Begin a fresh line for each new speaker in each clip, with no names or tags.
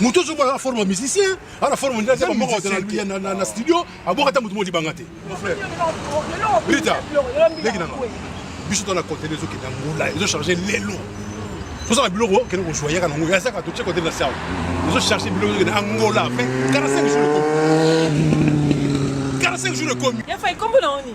moto ozo bala forme musicien ala forme ndia zema moko ya na na studio aboka ta moto modi banga te mon frère Rita leki nanga biso to na contenu ezo kenda ngola ezo charger lelo toza na biloko kende kozwa yaka nango ya saka totie kote na sawa ezo charger biloko ezo kende angola pe 45 jours ekomi 45 jours ekomi ya fa ikombo na oni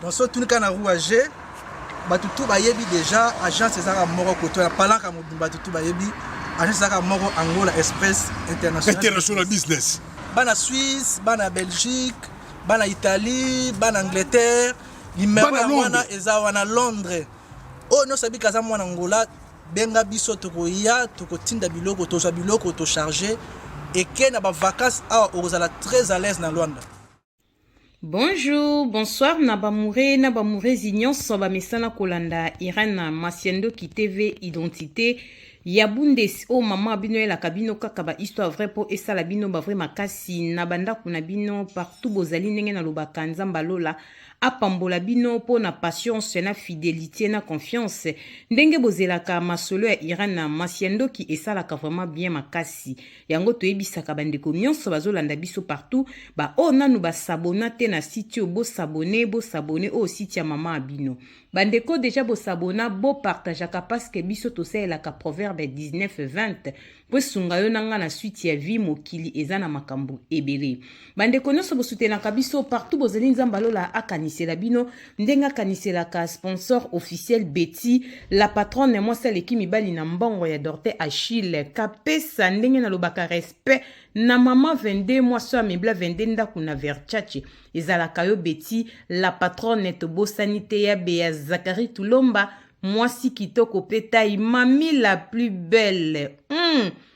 tosotunika na rouage bato tu bayebi déjà agence ezalaka moko koto ya palaka mobimba bato tu bayebi agence ezalaka moko angola express international business
bana suisse bana belgique bana italie bana angleterre limero ya wana eza wana londres oyo oh, nyonso abika aza mwana angola benga biso tokoya tokotinda biloko tozwa biloko tocharge eke na bavacance awa okozala très à l'aise na lwanda
Bonjour, bonsoir na bamoure na bamourezi nyonso bamesana kolanda Irène Masiandoki TV Identité ya Bundes oyo oh, mama abino elaka bino kaka ba histoire vrai mpo esala bino ba vrai makasi na bandako na bino partout bozali ndenge nalobaka nzambe alola apambola bino mpo na patience na fidelité na confiance ndenge bozelaka masolo ya Irène Masiandoki esalaka vraiment bien makasi yango toyebisaka bandeko nyonso bazolanda biso partout baoyo nanu basabona te na site oyo bosabone bosabone oyo site ya mama ya bino bandeko deja bosabona bopartageaka parceke biso tosalelaka proverbe 1920 mpo esunga yo na ngai na suite ya vie mokili eza na makambo ebele bandeko nyonso bosutenaka biso partout bozali nzambe alola akanisela bino ndenge akaniselaka sponsor officiel beti la patronne mwasi aleki mibali na mbongo ya dorte achille kapesa ndenge nalobaka respect na mama 22 mwasi oyo amebla 22 ndako na verchace ezalaka yo beti la patronne tobosani te ya beya zakari tulomba mwasi kitoko mpe tai mami la plus belle mm.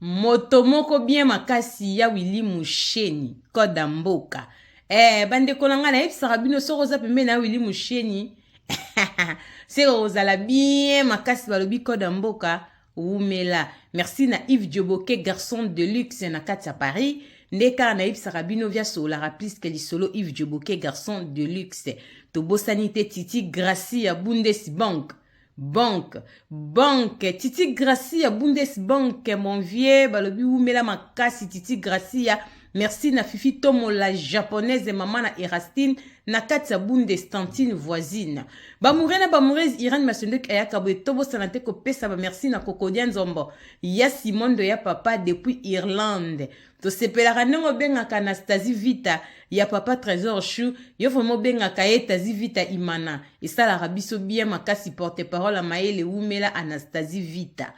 moto moko bien makasi ya wili musheni koda mboka eh, bandeko na ngai nayebisaka bino soki oza pembeni na wili musheni seke kozala bien makasi balobi koda mboka wumela merci na yves joboke garçon de luxe na kati ya paris nde kaka nayebisaka bino via sololaka pliske lisolo yves joboke garçon de luxe tobosani te titi gracie ya bundes bank banque banque titi gracia bundes banque mon vieux balobi wumela makasi titi gracia merci na fifi tomo la japonaise mama na erastine na kati ya bundes tantine voisine bamoure na bamourese irane masendoki ayaka boye tobosana te kopesa bamerci na kokodia nzombo ya simondo ya papa depuis irlande tosepelaka ndenge obengaka anastasie vita ya papa trésor chou yo vraimen obengaka ye tasie vita imana esalaka biso bien makasi porte parole ya mayele wumela anastasie vita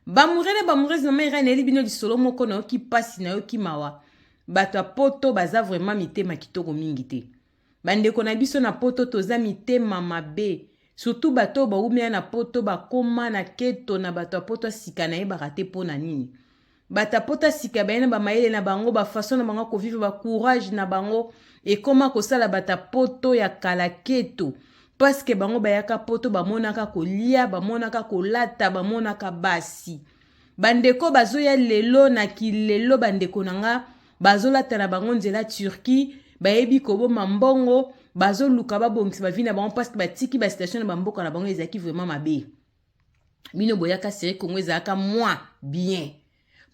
bamoure na bamourese mama irene eli bino lisolo moko nayoki mpasi nayoki mawa bato ya poto baza vraimen mitema kitoko mingi te Bandeko na biso na poto toza mitema mabe. Surtout bato oyo bawumela na poto bakoma na keto na bato ya poto ya sika nayebaka te mpo na nini. Bato ya poto ya sika baye na bamayele na bango, bafason na bango ya kovivre, bacourage na bango ekoma kosala bato ya poto ya kala keto. Paske bango bayaka poto bamonaka kolia, bamonaka kolata, bamonaka basi. Bandeko bazoya lelo na kilelo bandeko na nga bazolata na bango nzela turquie bayebi koboma mbongo bazoluka babongisa bavi na bango parceke batiki basituation na bamboka na bango ezalaki vraiment mabe bino boyaka seri congo ezalaka mwa bien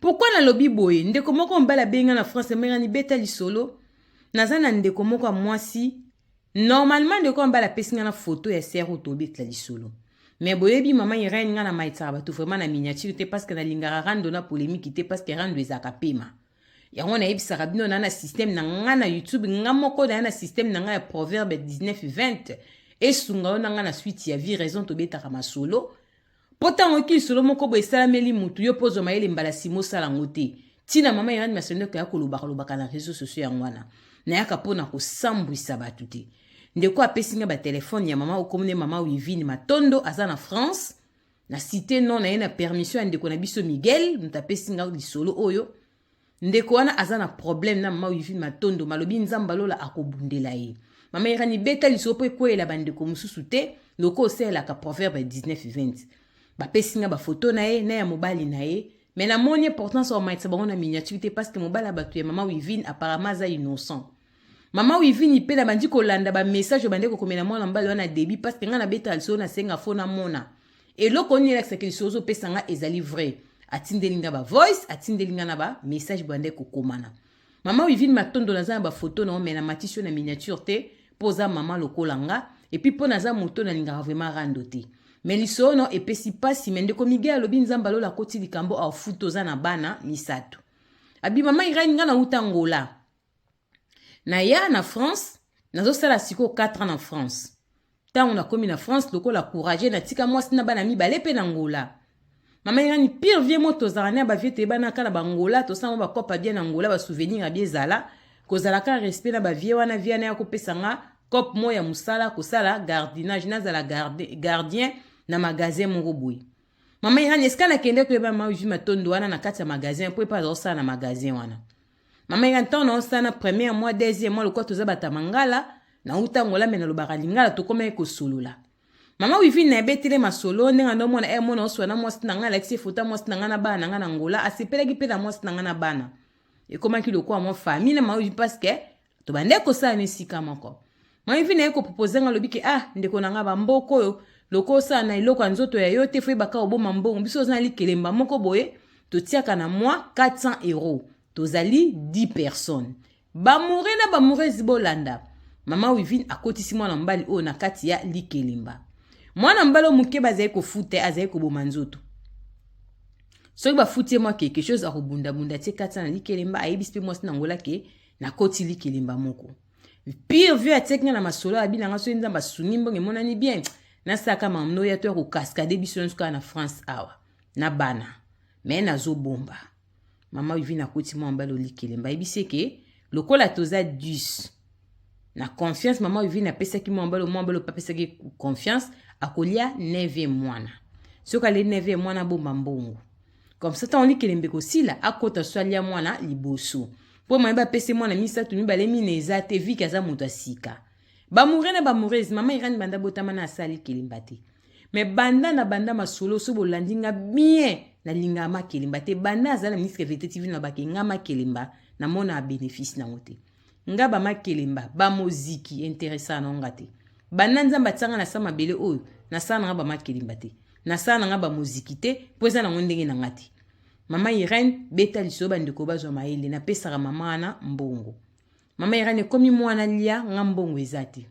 pourkui nalobi boye ndeko moko mobali abenga na france amengani beta lisolo naza na ndeko moko ya mwasi Normalement ndeko ya mbala apesi nga na photo ya sœur oyo tobetela lisolo. Mais boyebi maman Irène nga na maitsaka bato vraiment na miniature te parce que nalingaka rando na polemique te parce que rando ezalaka pema. yango nayebisaka bino na na système na nga na youtube nga moko na na système na nga ya proverbe 19 20 esunga yo na nga na suite ya vie raison tobetaka masolo Mpo ntango yoki lisolo moko boye esalameli motu yo mpo ozwa mayele mbala nsima osala yango te. Ntina mama Irene Masoneko ya kolobaka lobaka na reseau sociaux yango wana nayaka mpo na kosambwisa bato te. Ndeko apesi ngai batelefone ya mama okomone mama Wivine Matondo aza na France na cite non na ye na permission ya ndeko na biso Miguel moto apesi ngai lisolo oyo Ndeko wana aza na problème na mama Wivine Matondo malobi nzamba lola akobundela ye. Mama Irani beta lisolo mpo ekweyela bandeko mosusu te loko osalelaka proverbe 19-20. Bapesi nga bafoto na ye na ya mobali na ye me namoni importance ya komatisa bango na miniature te parce que mobali ya bato ya mama Wivine apparemment aza innocent. Mama Wivini pe nabandi kolanda ba message obande kokomela mwana mobali wana debi parce que ngai nabeta liso nasenga fo namona eloko nini elakisaki liso ozopesa ngai ezali vrai atindeli ngai ba voice atindeli ngai na ba message bande kokomana mama Wivini matondo naza na bafoto na yo me namatisi yo na miniature te mpo oza mama lokola nga epuis mpo naza moto nalingaka vraiment rando te me liso ono epesi mpasi me ndeko mige alobi nzambe alola akoti likambo afuta oza na bana misato abi mama irene ngai nauta ngola naya na france nazosala sikoyo 4 ans na france ntango nakomi na france lokola courage natika mwasi na bana mibale mpe na ngola mama irani pire vie mo tozala na bavie toyebanaka na bangola tosala mwa bakopa bie na ngola basouvenir ya biezala kozalaka respect na bavie wana vie wana ya kopesa nga cope moko ya mosala kosala gardinage nazala gardien na magasin moko boye mama irani esika nakende koyeba mavi matondo wana na kati ya magasin mpo epa azakosala na magasin wana mama ya ntango naosana première mwa deuxième mwa lokola toza bata mangala nauta ngola me nalobaka lingala tokomaki kosolola mama wivine na ebetele masolo ndenge ando omona e mona oswa na mwasi na ngai alakisi efuta mwasi na ngai na bana na ngai na ngola asepelaki mpe na mwasi na ngai na bana ekomaki lokola mwa famille na mama wivine parce que to bande kosala na esika moko mami vina ye kopropose nga alobi ke ah ndeko na nga bamboko oyo loko osala na eloko ya nzoto ya yo te foyebaka oboma mbongo biso oza na likelemba moko boye totiaka na mwa 400 euro tozali 10 personnes bamoure na bamourezi bolanda mama wivine akotisi mwana mobali oyo na kati ya likelemba mwana mobali oyo moke bazali kofuta ye azali koboma nzoto soki bafuti ye mwa quelque chose akobundabunda tie kati na likelemba ayebisi mpe mwasi na ngola ke nakoti likelemba moko pire vieux atiaki nga na masolo ya bina nga soki nzambe asungi mbongo emonani bien nasalaka mamno ya to ya kokaskade biso nyonso kaka na france awa na bana me nazobomba mama vivi nakoti mwa mbali olikelemba ayebisi eke lokola toza 10 na confiance mama vivi napesaki mwa mbali mwa mbali opapesaki confiance akolia 9 mwana soki alie 9 mwana abomba mbongo comme ça ntango likelembe kosila akota so alia mwana liboso mpo maye bapese mwana misato mibale mine eza te viki aza moto ya sika bamoure na bamourese mama irani banda botama na asali kelemba te me banda na banda masolo so bolandi nga bien nalingaka makelemba te banda azala ministre vete tv na bakengama kelemba namona benefice nango te nga ba makelemba ba moziki interesa na nga te banda nzambe atianga na sa mabele oyo na sala na nga ba makelemba te na sala na nga ba moziki te mpo eza nango ndenge na nga te mama irene beta lisolo bandeko bazwa mayele napesaka mama wana mbongo mama irene ekomi mwana lia nga mbongo eza te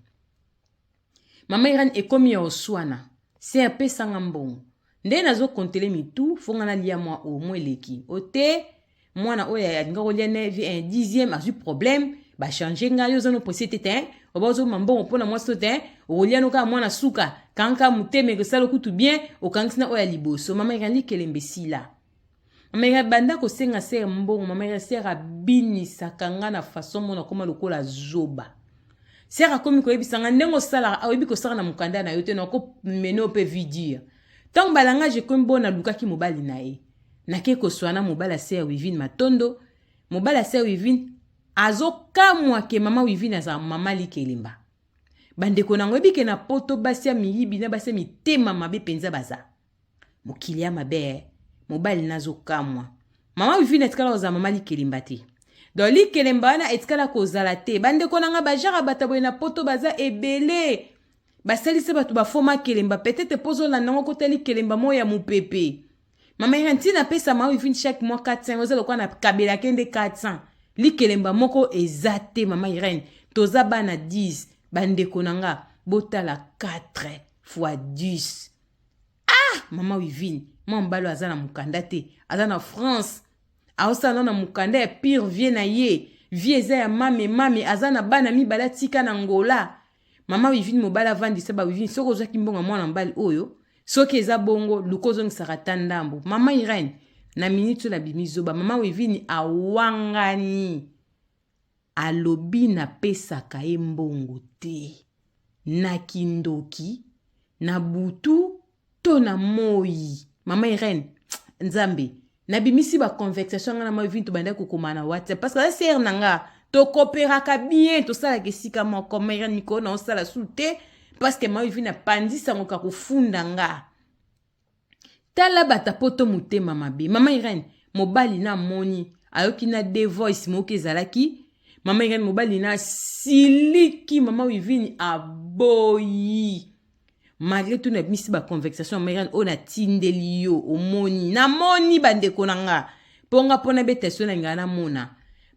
Mama Irène ekomi ya oswana. Sœur pesa nga mbongo. Nde nazo kontele mitu fo nga nalia mwa o mwa eleki. O te mwana oyo alinga kolia ne vi un dixième azwi problème ba changer nga yo zano presse te te oba ozo mambongo mpona mwasi to te okolia no kaka mwana suka kanka motema ekosala kutu bien okangisi na oyo ya liboso mama ekanli kelembe sila mais abanda kosenga sere mbongo mama ya sere abinisaka nga na façon mona akoma lokola zoba sere akomi koyebisa nga ndenge osalaka ayebi kosala na mokanda na yo te nakomene yo mpe vidire ntango balangage ekomi bo nalukaki mobali na ye nake koswana mobali ya sere wivine matondo mobali ya sere wivine azokamwa ke mama wivine azala mama likelemba bandeko nango ebike na poto basi ya miyibi na basi ya mitema mabe mpenza baza mokili ya mabe eh. mobali nazokamwa mama wivine atikala kozala mama likelemba te donc likelemba wana etikala kozala te bandeko na ngai bajara bata boye na poto baza ebele basalisa bato bafoma kelemba petete mpo ozolanda yango kota likelemba moko ya mopepe mama ira ntina apesa mama wivine chaque mois 400 oza lokola na kabela ke nde 400 likelemba moko eza te mama irene toza bana 10 bandeko na nga botala 4 fois 10 ah mama wivine mwa mobali aza na mokanda te aza na france aosala no na mokanda ya pire vie na ye vie eza ya mame mame aza na bana mibale atika na ngola mama wivine mobali avandisa bawivine soki ozwaki mbongo ya mwana mobali oyo soki eza bongo luka ozongisaka ata ndambo mama irene na miniti oyo nabimi zoba mama wivine awangani Alobi na pesaka ye mbongo te. Na kindoki, na butu to na moyi. Mama Irene, Nzambe, na bimisi ba conversation nga na ma vinto banda ko koma na WhatsApp parce que la sœur na nga to cooperaka bien to sala ke sika moko ma Irene mikolo na osala sous te parce que ma vina pandisa ngo ka kufunda nga. tala bata poto motema mabe mama irene mobali na moni ayoki na de voice moki ezalaki mama irene mobali na siliki mama wivini aboyi malgré tout nabimisi baconvexation mama irene oyo natindeli yo omoni namoni bandeko na nga mpo nga mpo nabeta eso na ngai namona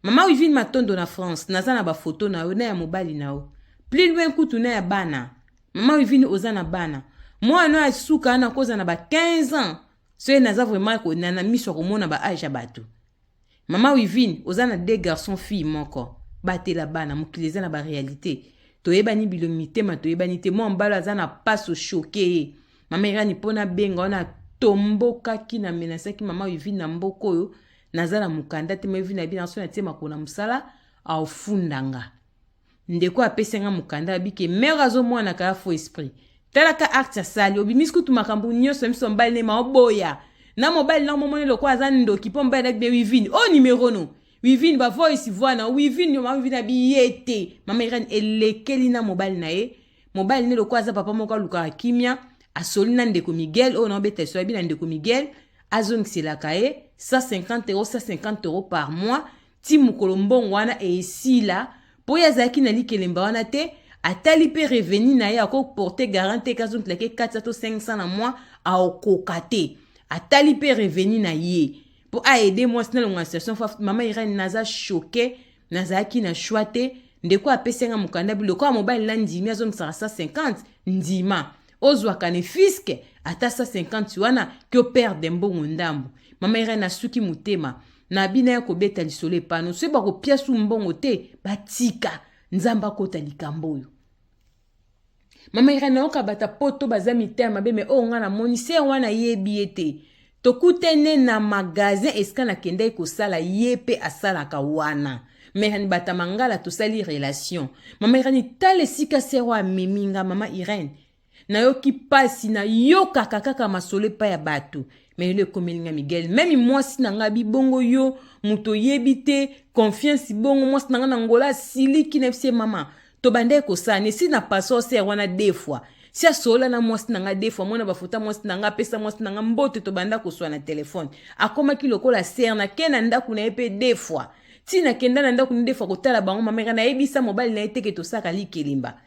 mama wivine matondo na france naza na bafoto na yo na ya mobali na yo plus loin kutu na ya bana Mama Wivine oza na bana. Mwana no ya suka na koza na ba 15 ans. Soki naza vraiment ko na miso komona ba âge ya bato. Mama Wivine oza na deux garçons filles moko. Batela bana mokili eza na ba réalité. Toyebani bilo mitema toyebani te. Mwa mbalo aza na paso choke ye. Mama Irani mpo nabenga wana tombokaki na menasaki mama Wivine na mboka oyo naza na mokanda te ma Wivine na bino aso na tie makolo na mosala aofundanga. ndeko apesi nga mokanda abi ke mère azomwanaka ya faux esprit talaka acte asali obimisi kutu makambo nyonso miso mobali ne maoboya na mobali na momoni lokola aza ndoki mpo mobali nabi be wivine o oh, nimero no wivine bavoice voi na wivine yo mama wivine abi ye te mama irene elekeli na mobali na ye mobali ne lokola aza papa moko alukaka kimia asoli na ndeko miguel oyo oh, naobeta liso yabi na ndeko miguel azongiselaka ye 150 euro 150 euro par mois ti mokolo mbongo wana esila mpo ye azalaki na likelemba wana te atali mpe revenu na ye akoporte garant te kazongelake 400 to 500 na mwa aokoka te atali mpe revenu na ye mpo aede mwasi nalongo na situation fa mama irene naza choke nazalaki na choix te ndeko apesi yanga mokanda bilokola mobali nandimi azongisaka 150 ndima ozwaka ne fiske ata 150 wana ke operde mbongo ndambo mama irene asuki motema na bino ya kobeta lisolo epano soki bakopia su mbongo te batika nzambe akota likambo oyo mama irene nayoka bata poto baza mitema mabe me oyo ngai namoni se wana ayebi ye te Tokutene na magasin esika nakendaki kosala ye pe asalaka wana. Mama Irène Bata Mangala tosali relation. Mama Irène tala esika sœur oyo amemi nga mama Irène. Nayoki pasi nayokaka kaka masolo epai ya bato. Mais lelo ekomeli nga Miguel meme mwasi na nga bi bongo yo moto oyebi te confiance bongo mwasi na nga na ngola asiliki na yebisi ye mama tobandaki kosala ne si na paso ser wana de fois si asolola na mwasi na ngai defo amona bafuta mwasi na ngai apesa mwasi na ngai mbote tobanda koswa na telefone akomaki lokola ser nake na ndako na ye mpe defo ti nakenda na ndako na defo kotala bango mameka nayebisa mobali na ye teke tosaka likelimba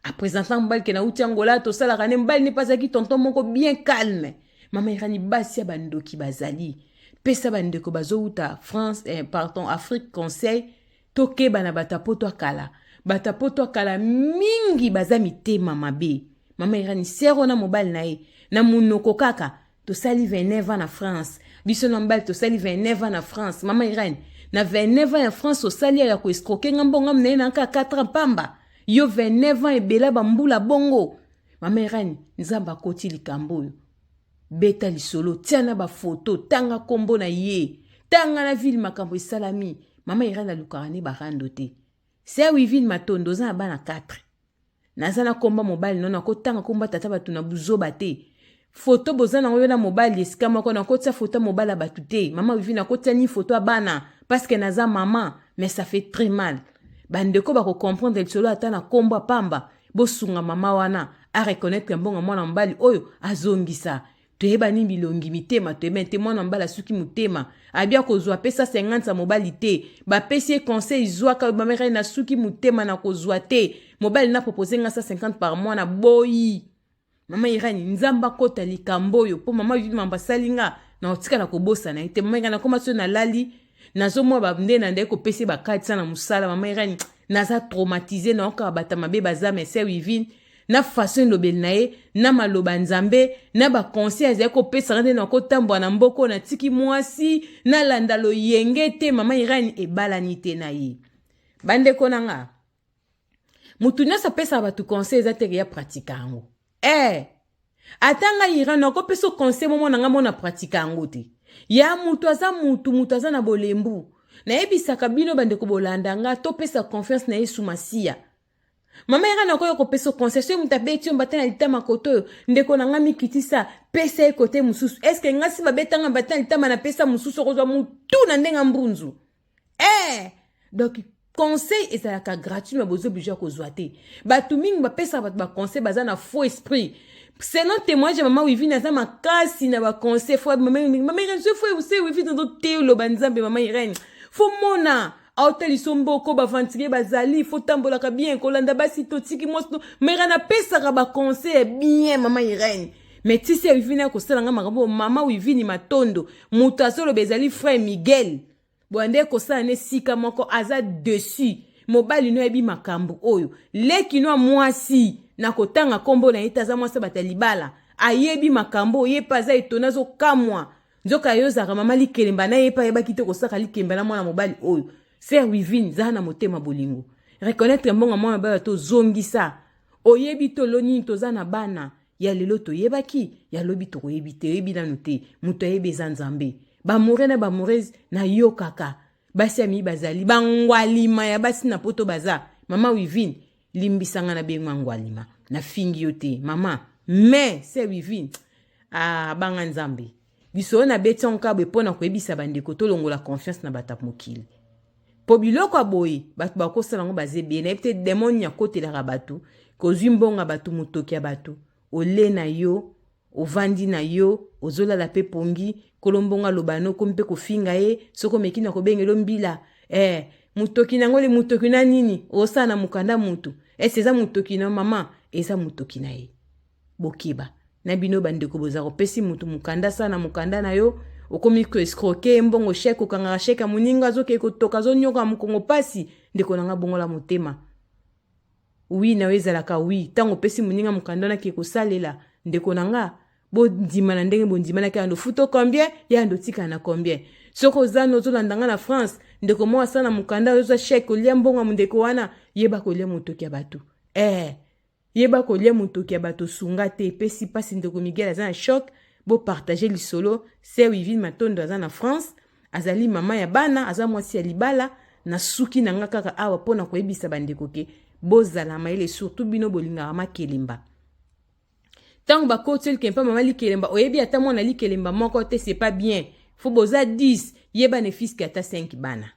apresentant mobali ke nauti angola tosalaka ne mobali ne mpe azalaki tonton moko bien calme mamerani basi ya bandoki bazali pesa bandeko bazowuta france eh, pardon afrique conseil tokeba na bato ya poto ya kala bato ya poto ya kala mingi baza mitema mabe mama irani sero na mobali na ye na monoko kaka tosali 29 ans na france biso na mobali tosali 29 ans na france mama irani na 29 ans ya france osali ya koescroke nga mbongo ngamu na ye na kaka 4 ans pamba yo 29 ans ebela bambula bongo mama irani nzambe akoti likambo oyo beta lisolo tia na bafoto tanga nkombo na ye tanga na ville makambo esalami mama irene alukaka nde barando te se wivine matondo oza na bana 4 naza na komba mobali nono akotanga komba tata bato na buzoba te foto boza nango yo na mobali esika moko nakotia foto ya mobali ya bato te mama wivine akotia nini foto ya bana parceke naza mama mais ça fait très mal bandeko bakocomprendre lisolo ata na kombo ya pamba bosunga mama wana a reconnaître mbongo mwana mobali oyo azongisa toyeba nini bilongi mitema toyeba te mwana mobali asuki motema abi akozwa apesa 50 ya mobali te bapesi ye conseil zwaka oyo bameka ye nasuki motema na kozwa te mobali na propose nga 150 par mois na boyi mama irani nzambe akota likambo oyo mpo mama yudi mambo asali nga na otikala kobosana ye te mama irani akoma so nalali nazomwa bande na ndai kopesa ye bakatisa na mosala mama irani naza traumatise naokaka bata mabe baza mese wivine na faso elobeli na ye na maloba nzambe na baconseil azali kopesaka nde nakotambola na mboka oyo natiki mwasi nalanda loyenge te mama irani ebalani te na ye bandeko na nga motu nyonso apesaka bato conseil eza teke ya pratika yango eh ata ngai iran nakopesa conseil momo na ngai mona pratika yango te ya motu aza motu motu aza na bolembu nayebisaka bino bandeko bolanda nga topesa confiance na yesu masiya mama yaka na okoya kopesa conseil soki moto abeti yo mbata na litama koto oyo ndeko na ngai mikitisa pesa ye kote mosusu eske ngasi babetanga mbata na litama napesa mosusu okozwa motu na ndenge mbunzu eh donc conseil ezalaka gratuit me bozo oblige ya kozwa te bato mingi bapesaka bato baconseil baza na faux esprit selon témoignage ya mama wivine aza makasi na baconseil fo mama irene so fo se wivine ozo te oloba nzambe mama irene fo mona aotaliso mboko baventurier bazali fo tambolaka bien kolanda basi totiki mwasi mama irene apesaka baconseil ya bien mama irene me tisi ya wivini akosala ngai makambo oyo mama wivini matondo moto azoloba ezali frère miguel boya nde ekosala na esika moko aza dessus mobali no ayebi makambo oyo leki no ya mwasi na kotanga nkombo na ye te aza mwasi abata libala ayebi makambo oyo ye mpe aza etone azokamwa nzoka yo ozalaka mama likelemba na ye mpe ayebaki te kosaka likemba na mwana mobali oyo ser wivine zala na motema bolingo reconnaitre mbongo ya mwana mobali to zongisa oyebi tolo nini toza na bana ya lelo toyebaki ya lobi tokoyebi te oyebi nanu te moto ayebi eza nzambe bamore na bamorese nayokaka basi ya miyi bazali bangwalima ya basi na poto baza mama wivine limbisanga na bengi mangwalima nafingi yo te mama me se wivine abanga ah, nzambe Lisolo na beti yango kaka boye mpo na koyebisa bandeko tolongola confiance na bato ya mokili mpo biloko ya boye bato bakosala yango baza ebele nayebi te demoni akotelaka bato kozwi mbongo ya bato motoki ya bato ole na yo ovandi na yo ozolala mpe pongi nkolo mbongo aloba no okomi mpe kofinga ye soki omeki na kobengelo mbila eh, motoki na yango le motoki na nini osala na mokanda motu esi eza motoki na mama eza motoki na ye bokeba na bino bandeko boza kopesi motu mokanda sa na mokanda na yo okomi koescroke mbongo sheke okangaka sheke ya moninga azokei kotoka azonyoka mokongo mpasi ndeko na ngai bongola motema wi na yo ezalaka wi ntango opesi moninga mokanda nake kosalela ndeko na nga bondima na ndenge bondimanaki yando futo combien yando otikala na combien soki oza no ozolanda nga na france ndeko moko asala na mokanda oyo oza sheke olia mbongo ya mondeko wana yeba kolia motoki ya bato ee eh. Yeba kolia mutoki ya bato sunga te epesi pasi ndeko Miguel aza na choc bo partager lisolo sœur Wivine Matondo aza na France azali mama ya bana aza mwasi ya libala na suki na nga kaka awa mpo na koyebisa bandeko ke bozala mayele surtout bino bolingaka makelemba ntango bakoteli ke mpa mama likelemba oyebi ata mwana likelemba moko te c'est pas bien fo boza 10 yeba ne fiske ata 5 bana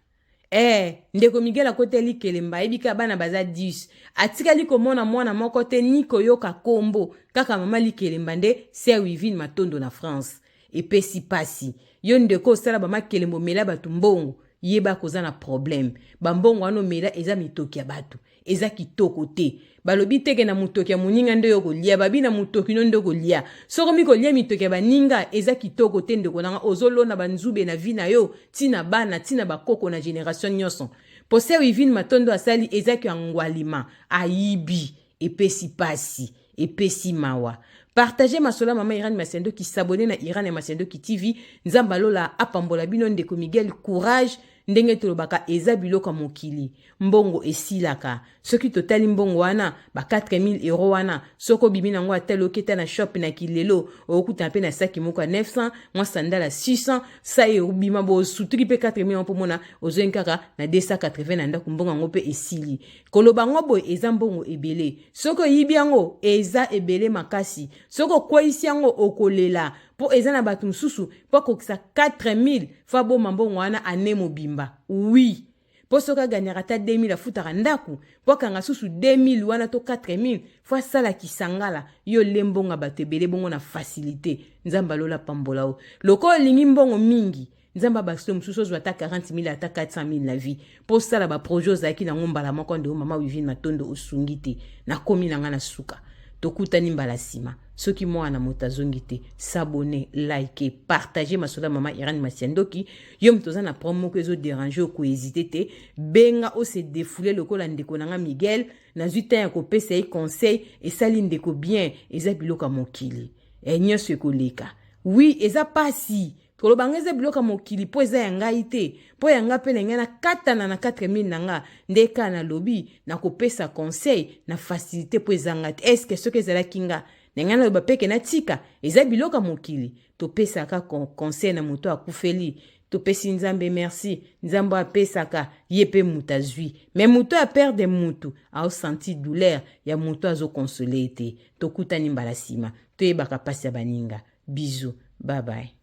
Eh, ndeko Miguel akoteli kelemba, ayebi ka bana baza 10. Atikali komona mwana moko te ni koyoka kombo, kaka mama likelemba nde sœur Wivine Matondo na France. Epesi pasi. Yo ndeko osala ba makelembo mela bato mbongo, yeba koza na problème. Ba mbongo wana omela eza mitoki ya bato. eza kitoko te balobi teke na motoki ya moninga nde yo kolia babi na motoki no nde kolia soko mikolia mitoki ya baninga eza kitoko te ndeko nanga ozolona banzube na vi na yo ntina bana ntina bakoko na generation nyonso poseo ivine matondo asali eza kyo angwalima ayibi epesi pasi epesi mawa partage masolo ya mama irane masiandoki sabone na irane ya masiandoki tv nzambe alola apambola bino ndeko miguel courage ndenge tolobaka eza biloko ya mokili mbongo esilaka soki totali mbongo wana ba 4000 euro wana soki obimi na yango ata loketa na shop na kilelo okutana mpe na saki moko ya 900 mwa sandala 600 sai obima bosutuki mpe 4000 yango mpo mona ozongi kaka na 280 na ndako mbongo yango mpe esili koloba yango boye eza mbongo ebele soki oyibi yango eza ebele makasi soki okweyisi yango okolela mpo eza na bato mosusu mpo akokisa 4000 fo abomba mbongo wana ane mobimba wi mpo soki aganyaka ata 2000 afutaka ndako mpo akanga susu 2000 wana to 4000 fo asala kisangala yo le mbongo ya bato ebele bongo na fasilite nzambe alola pambola yo lokola olingi mbongo mingi nzambe abakisi yo mosusu ozwa ata 40 mille ata 400 mille na vie mpo osala baprojet ozalaki nango mbala moko nde mama wivine matondo osungi te nakomi na ngai na suka tokutani mbala nsima soki mwana moto azongi te sabone like partage masolo ya mama irane masiandoki yo moto oza na problème moko ezoderange okohezite te benga ose defoule lokola ndeko na ngai miguel nazwi ntan ya kopesa ye conseil esali ndeko bien eza biloko ya mokili e nyonso ekoleka wi eza mpasi koloba nga eza biloko ya mokili mpo eza ya ngai te mpo ya ngai mpe na ngai nakatana na 4000 na nga nde kaka nalobi nakopesa conseil na facilité mpo eza ngai te eske soki ezalaki nga na ngai naloba mpeke natika eza biloko ya mokili topesaka conseil na moto akufeli topesi nzambe merci nzambe apesaka ye mpe moto azwi me moto ya perde motu aosanti douleur ya moto azokonsole ye te tokutani mbala nsima toyebaka mpasi ya baninga Bisous. Bye
bye.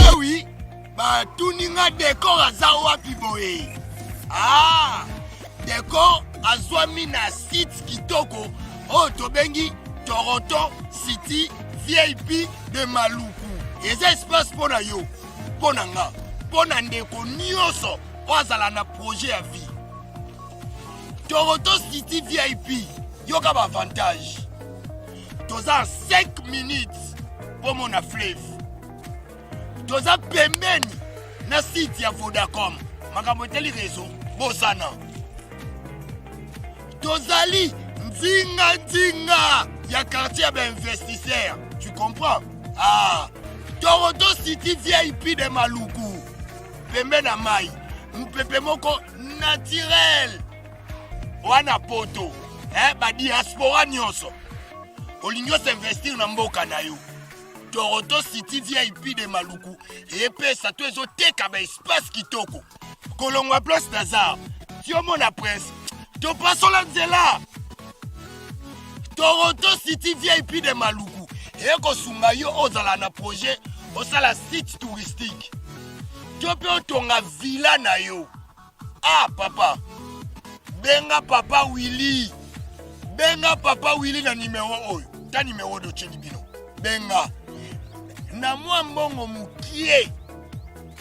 Ah oui, bah tout ninga décor à Zawa Piboé. Ah, décor à Zouamina site Kitoko. Oh, Tobengi, Toronto, City, VIP de Maluku. Et ça se passe pour yo, pour Nanga, pour Nandeko, Nyoso, pour Zalana projet à vie. Toronto City VIP yoka ba avantage toza 5 minutes mpo mona fleve toza pembeni na site ya vodacom makambo etali rezo bosana tozali nzinga nzinga ya quartier ya bainvestisseur tu comprends ah. toronto city vip de maluku pembe na mai mopepe moko naturel wana poto eh, badiaspora nyonso olingi osinvestir na mboka na yo toronto city vip de maluku epesa to ezoteka baespace kitoko kolongwa place nazar ti omona prince topasola nzela toronto city vip de maluku ekosunga yo ozala na projet osala site touristique to mpe otonga villa na yo ah papa benga papa willi benga papa willi na nimero oyo ta nimero oyo otyeli bino benga na mwa mbongo mokie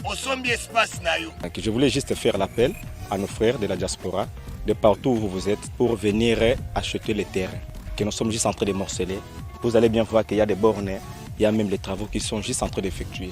osombi espace na yo je voulais juste faire
l'appel à nos frères de la diaspora de partout où vous êtes pour venir acheter les terrains que nous sommes juste en train de morceler vous allez bien voir qu'il y a des bornes il y a même les travaux qui sont juste en train d'effectuer